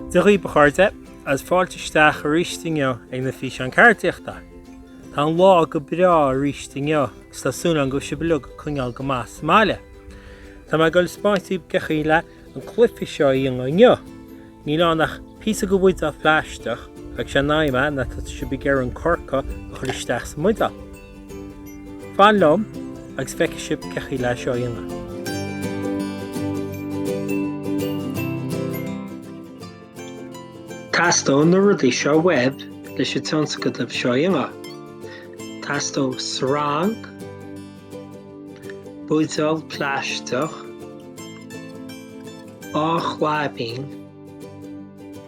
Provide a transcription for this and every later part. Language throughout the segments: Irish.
Dia dhaoibh a chairde, agus fáilte isteach aríst inniu ag na Físeáin Ceardaíochta! Tá an lá go breá aríst inniu agus tá súil agam go bhfuil sibh uilig ag coinneáil go maith sa mbaile. Tá mé ag dul spáint daoibh cén chaoi leis an cluiche seo a dhéanamh inniu. Níl ann ach píosa go bhuidéal plaisteach agus sé an aidhm ná tá sibh ag iarraidh an corc a chur isteach sa mbuidéal. Fan liom agus feicfidh sibh cén chaoi leis seo a dhéanamh. Teastaíonn na rudaí seo uaibh leis an tionscadal seo a dhéanamh. Teastaíonn sreang. buidéal plaisteach, dhá chlaibín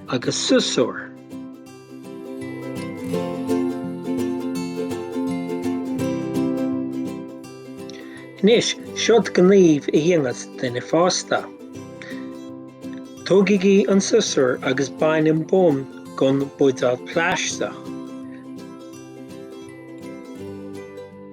agus siosúr. Anois, seod gníomh a dhéanfas duine fásta. Tógaigí an siosúr agus bain an bonn gon buidéal plaisteach.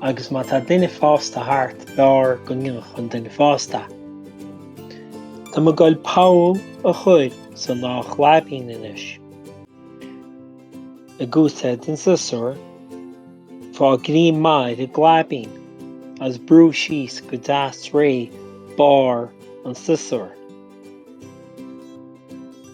Agus má tá duine fásta thart, b'fhearr go ndéanfadh an duine fásta. Tá mé ag goil poll a chur sa dá chlaibín anois. Ag úsáid an siosúr, faigh greim maith ar an gclaibín agus brúigh síos go deas réidh barr an tsiosúir.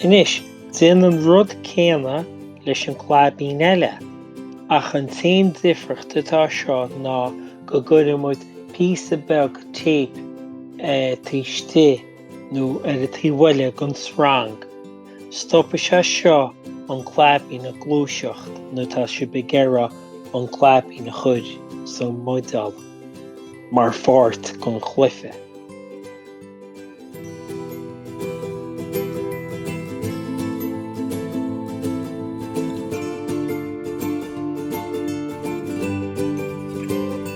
Anois, déan an rud céanna leis an gclaibín eile, ach an t-aon difriocht an t-am seo ná go gcuireann muid píosa beag téip taobh istigh. nó ar an taobh eile den srang, stopfaidh sé seo an claibín ag gluaiseacht nuair atá sibh ag iarraidh an claibín a chur sa mbuidéal mar pháirt den chluiche.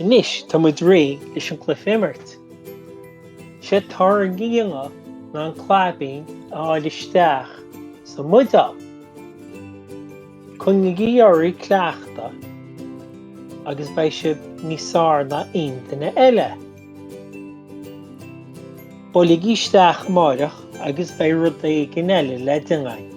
Anois tá muid réidh leis an cluife a imirt. Séard atá le déanamh ná an claibín a fháil isteach sa mbuidéal. Coinnigí oraibh cleachtadh agus beidh sibh níos fearr ná aon duine eile. Buailigí isteach amáireach agus beidh rud éigin eile le déanamh againn.